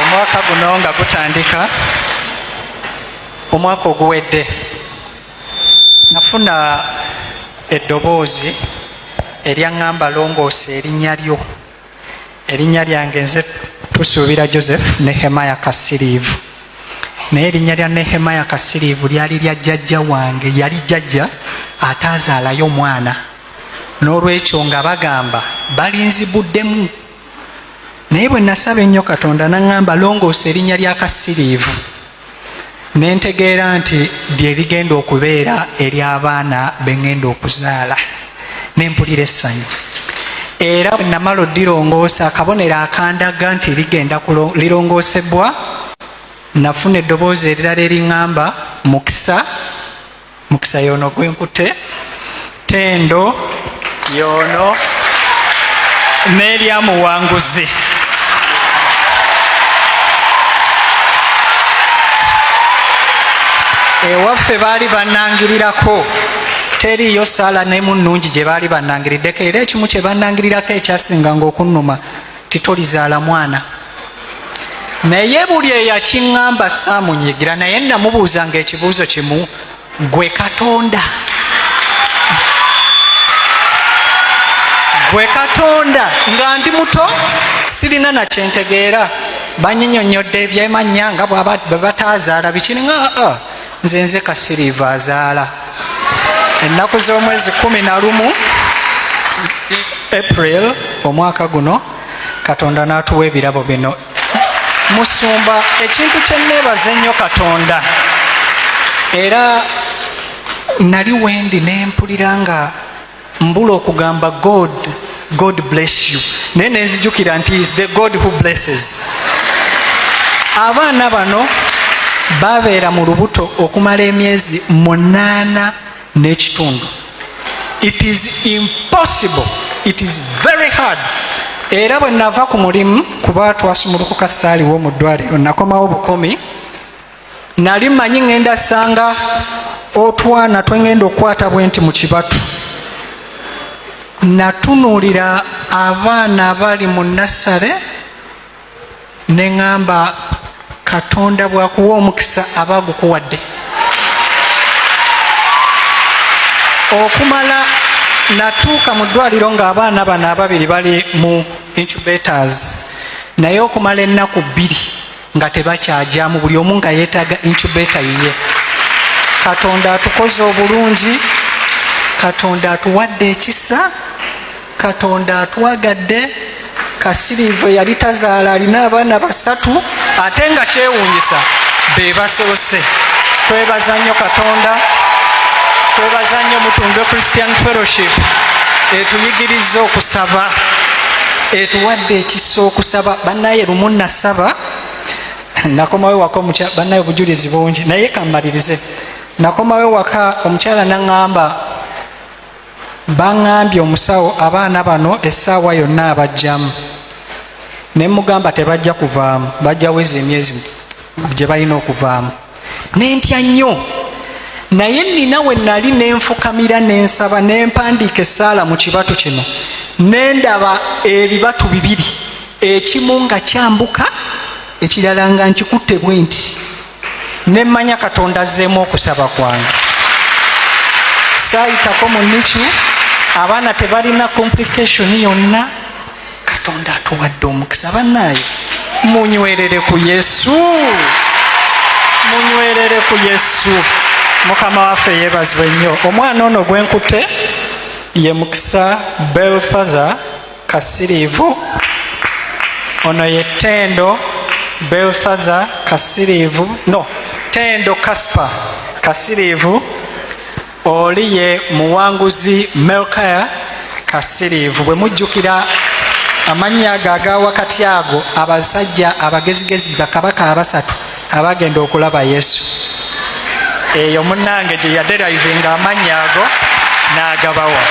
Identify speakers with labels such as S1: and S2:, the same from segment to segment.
S1: omwaka guno nga gutandika omwaka oguwedde nafuna eddoboozi eryaŋŋamba longoosa erinnya lyo erinnya lyange nze tusuubira joseph nehemaya kasiriivu naye erinnya lya nehemaya kasiriivu lyali lya jjajja wange yali jjajja ataazaalayo omwana n'olwekyo nga bagamba balinzibuddemu naye bwe nasaba ennyo katonda naŋŋamba longoosa erinnya lya kasiriivu ne ntegeera nti lye ligenda okubeera ery'abaana be ŋŋenda okuzaala ne mpulira essanyu era bwe namala oddirongoosa akabonero akandaga nti ligenda lirongoosebwa nafuna eddoboozi erirala eriŋŋamba mukisa mukisa yono gwenkutte tendo yono nelyamuwanguzi ewaffe baali banangirirako teriyo saala nemu nungi gye baali banangiriddeko era ekimu kye banangirirako ekyasinga nga okunnuma titolizaala mwana naye buli eyakiŋŋamba saamunyigira naye namubuuza nga ekibuuzo kimu gwe katonda gwe katonda nga ndi muto sirina nakyentegeera banyinyonyodde ebyemanya nga bwebatazaala bikiri nga ah, ah, nze nze kasiriiva azaala ennaku z'omwezi kumi na lumu april omwaka guno katonda n'atuwa ebirabo bino musumba ekintu kyenneebaza ennyo katonda era nali wendi ne mpulira nga mbula okugamba god god bless you naye nenzijukira nti is the god who blesses abaana bano babeera mu lubuto okumala emyezi munaana n'ekitundu it is impossible it is very hard era bwe nava ku mulimu kuba twasumulukuka saaliwo mu ddwaliro nakomawo bukumi nali manyi ŋenda sanga otwana twengenda okukwata bwe nti mu kibatu natunuulira abaana abali mu nassale ne ŋŋamba katonda bwakuwa omukisa aba agukuwadde okumala natuuka mu ddwaliro ng'abaana bano ababiri bali mu incubators naye okumala ennaku bbiri nga tebakyajamu buli omu nga yeetaaga incubator yiye katonda atukoze obulungi katonda atuwadde ekisa katonda atwagadde kasiriiva yali tazaala alina abaana basatu ate nga kyewuunyisa be basoose twebaza nnyo katonda twebaza nnyo mutunge christian fellowship etuyigiriza okusaba etuwadde ekisa okusaba banaye lumu nasaba nakomawo waka omukyala banaye obujulizi bungi naye kammalirize nakomawo waka omukyala naŋamba Baŋŋambye omusawo abaana bano essaawa yonna abajjamu ne mugamba tebajja kuvaamu bajja weza emyezi gye balina okuvaamu nentya nnyo naye nina we nali ne nfukamira ne nsaba ne mpandiika essaala mu kibatu kino ne ndaba ebibatu bibiri ekimu nga kyambuka ekirala nga nkikutte bwe nti nemmanya katonda azzeemu okusaba kwange saayitako mu nicu abaana tebalina complication yonna katonda atuwadde omukisa bannaayo munywerere ku yesu munywerere ku yesu mukama waffe yeebazibwe nnyo omwana ono gwenkutte ye mukisa belfather kasiriivu ono ye tendo belthaza kasiriivu no tendo kaspa kasiriivu oli ye muwanguzi melkaya kasiriivu bwe mujjukira amannya ago aga wakati ago abasajja abagezigezi bakabaka abasatu abagenda okulaba yesu eyo munange gye yaderivinga amannya ago n'agabawa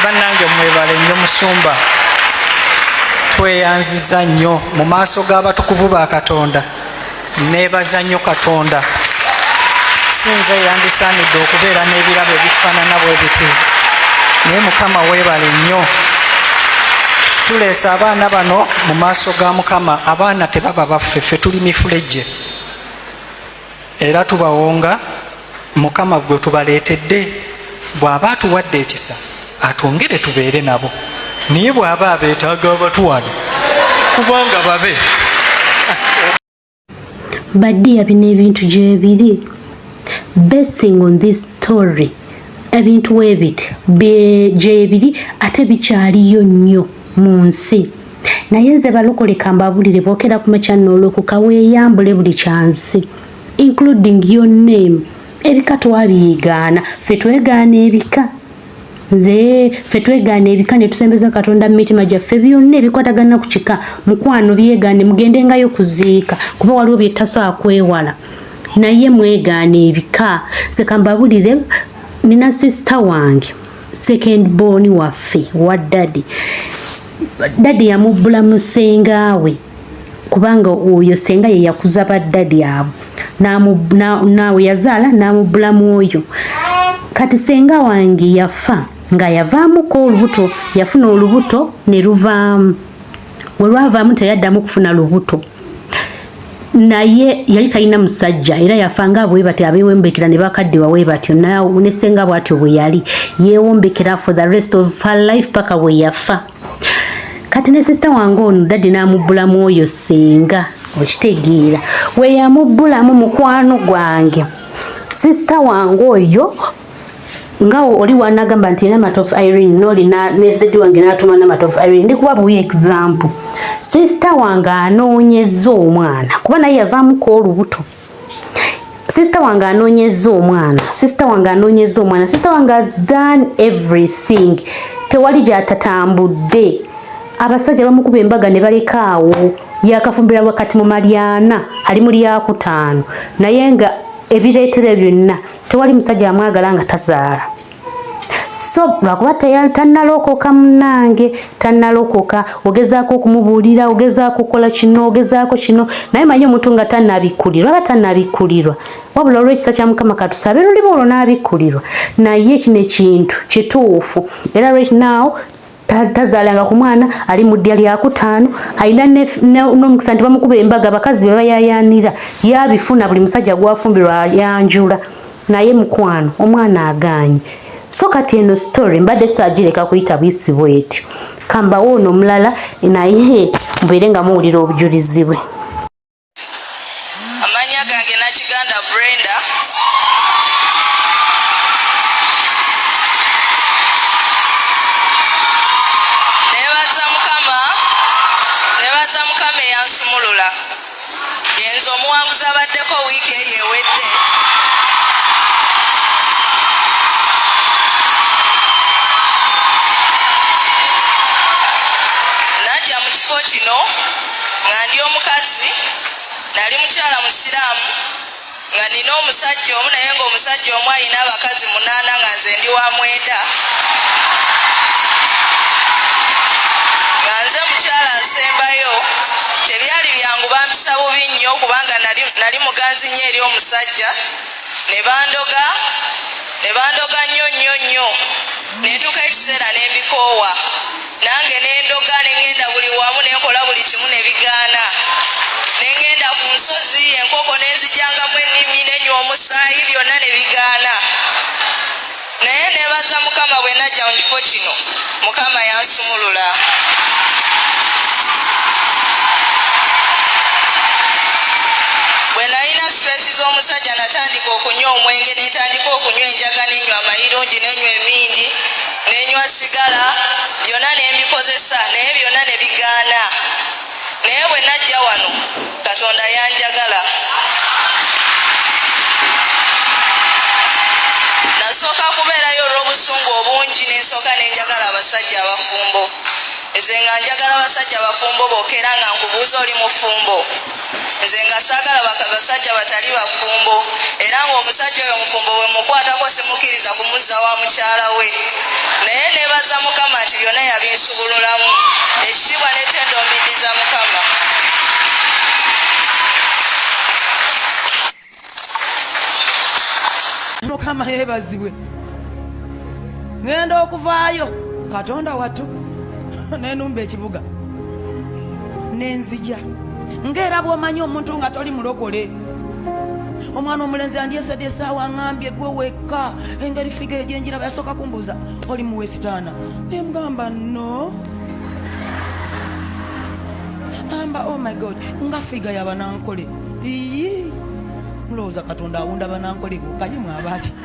S1: bannange mwebale nnyo musumba tweyanziza nnyo mu maaso g'abatukuvu ba katonda nebaza nnyo katonda sinze yandisaanidde okubeera n'ebirabo ebifaanana bwe biti naye mukama weebale nnyo tuleese abaana bano mu maaso ga mukama abaana tebaba baffe ffe tuli mifulejje era tubawonga mukama gwe tubaleetedde bw'aba atuwadde ekisa atwongere tubeere nabo naye bw'aba abeetaaga abatuwano kubanga babe
S2: badiya bino ebintu gyebiri basing on this story ebintu webit gyebiri ate bikyaliyo nnyo mu nsi naye nze balokole kambabulire bokera ku machanno olwoku kaweeyambule buli kyansi including your name ebika twabiyigaana ffe twegaana ebika nze ffe twegaana ebika ne tusembeza katonda mu mitima gyaffe byonna ebikwatagana ku kika mukwano byegaane mugendengayo kuziika kuba waliwo byetasobola kwewala naye mwegaana ebika nze kambabulire nina sisita wange second born waffe wa daddy daddy yamubbula mu senga we kubanga oyo senga ye yakuza ba daddy abo naawe yazaala n'amubbula mu oyo kati senga wange yafa nga yavaamuko olubuto yafuna olubuto ne luvaamu we lwavaamu teyaddamu kufuna lubuto naye yali talina musajja era yafanga bwe batyo abewombekera ne bakadde wawe batyo naawe ne senga bwatyo bwe yali yewombekera for the rest of her life paka we yafa kati ne sister wange ono dadde n'amubbulamu oyo senga okitegeera we yamubbulamu mukwano gwange sister wange oyo ngawo oli wanagamba nti ina matter of Irene noli na ne daddy wange natuma na matter of Irene ndi kuba buyi example sister wange anoonyezza omwana kuba naye yavaamu ko olubuto sister wange anoonyezza omwana sister wange anoonyezza omwana sister wange has done everything tewali gyatatambudde abasajja bamukuba embaga ne balekaawo yakafumbira wakati mu malyana ali mu lyakutaano naye nga ebireetera byonna tewali musajja amwagala nga tazaala so lwakuba tannalokoka munange tannalokoka ogezaako okumubuulira ogezaako okukola kino ogezaako kino naye manyi omuntu nga tannabikkulirwa aba tannabikkulirwa wabula olw'ekisa kya mukama katusabe luliba olwo n'abikkulirwa naye kino ekintu kituufu era right now tazaalanga ku mwana ali mu ddya lyakutaano alina n'omukisa nti bamukuba embaga abakazi be bayayaanira yabifuna buli musajja gwafumbirwa ayanjula naye mukwano omwana agaanyi so kati eno story mbadde saagireka kuyita buyisi bwetyo kambawo ono omulala naye mbeere nga muwulira obujulizi bwe
S3: amanya gange nakiganda brenda nebaza mukama nebaza mukama eyansumulula yenza omuwanguzi abaddeko wiiki eyo ewedde najja mu kifo kino nga ndi omukazi nali mukyala musiraamu nga nina omusajja omu naye nga omusajja omu alina abakazi munaana nga nze ndi wa mwenda nga nze mukyala asembayo tebyali byangu bampisa bubi nnyo kubanga nali muganzi nnyo eri omusajja ne bandoga ne bandoga nnyo nnyo nnyo netuuka ekiseera nembikoowa nange nendoga nengenda buli wamu nenkola buli kimu nebigaana nengenda ku nsozi enkoko nenzijangamu ennimi nenywa omusaayi byonna nebigaana naye nebaza mukama bwe najja mu kifo kino mukama yansumulula bwe nalina stress z'omusajja natandika okunywa omwenge netandika okunywa enjaga nenywa amayirungi nenywa emindi nenywa sigala byonna ne mbikozesa naye byonna ne bigaana naye bwe najja wano katonda yanjagala nasooka kubeerayo olw'obusungu obungi nensooka nenjagala abasajja abafumbo nze nga njagala abasajja abafumbo bokera nga nkubuuza oli mufumbo nze nga saagala basajja batali bafumbo era ng'omusajja oyo mufumbo bwe mukwatako simukkiriza kumuzza wa mukyala we naye nebaza mukama nti byonna yabinsubululamu ekitiibwa netendo mbiddiza mukama
S4: mukama yebazibwe ngenda okuvaayo katonda wattu nenumba ekibuga nenzija ngaera bwomanyi omuntu nga toli mulokole omwana omulenzi andyesadi esaawa ngambye gwe wekka engeri figa egyenjiraba yasooka kumbuuza oli muwesitaana nemugamba no amba oh my god nga figa yabanankole iyi mulowooza katonda awunda banankole bukanyumwabaaki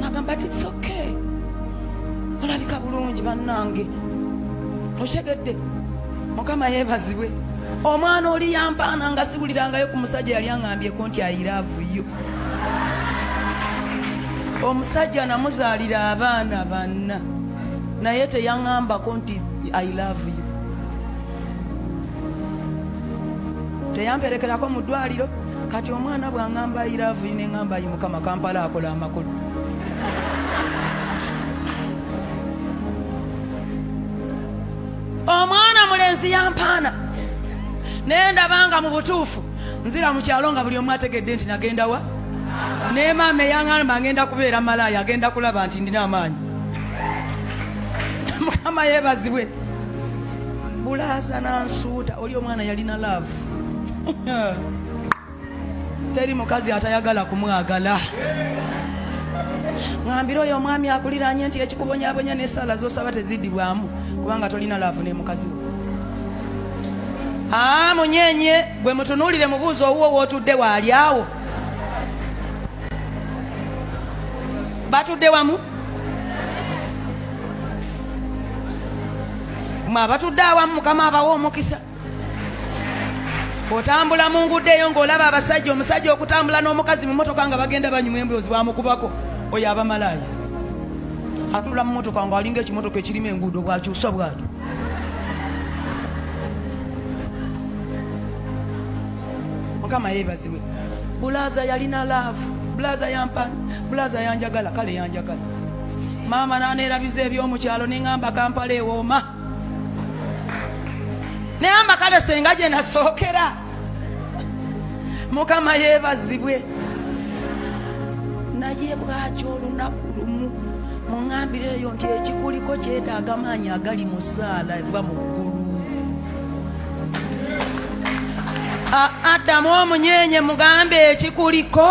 S4: nagamba ti it's okay olabika bulungi bannange okitegedde mukama yebazibwe omwana oli yampaana nga siwulirangayo ku musajja yali aŋambyeko nti ayiraavuyo omusajja namuzaalira abaana banna naye teyaŋambako nti i love you teyamperekerako mu ddwaliro kati omwana bwangamba ayilavu ine ngamba ayi mukama kampala akola amakulu omwana mulenzi yampaana naye ndabanga mu butuufu nzira mu kyalo nga buli omu ategedde nti nagenda wa naye maama eyaŋamba ngenda kubeera malaaya agenda kulaba nti ndina amaanyi mukama yebazibwe bulaasa nansuuta oli omwana yalina laavu teri mukazi atayagala kumwagala ngambira oyo omwami akuliranye nti ekikubonyabonya nesala zosaba tezidibwamu kubanga tolina laavu nemukazi wo ah, munyenye gwe mutunulire mubuuzi owuwo wotudde waali awo batudde wamu mwe abatudde awamu mukama abawa omukisa otambula mu nguudo eyo ng'olaba abasajja omusajja okutambula n'omukazi mu motoka nga bagenda banyuma emboozi bamukubako oyo abamalaaya atula mu motoka ng'alinga ekimotoka ekirimu enguudo bwakyusa bwati mukama yeebazibwe bulaza yalina laavu bulaza yampani bulaza yanjagala kale yanjagala maama naneerabiza ebyomukyalo nengamba kampala ewooma naye amakale senga gye nasookera mukama yeebazibwe naye bwaki olunaku lumu muŋambire eyo nti ekikuliko kyetaaga maanyi agali mu saala eva mu ggulu adamu omunyenye mugambe ekikuliko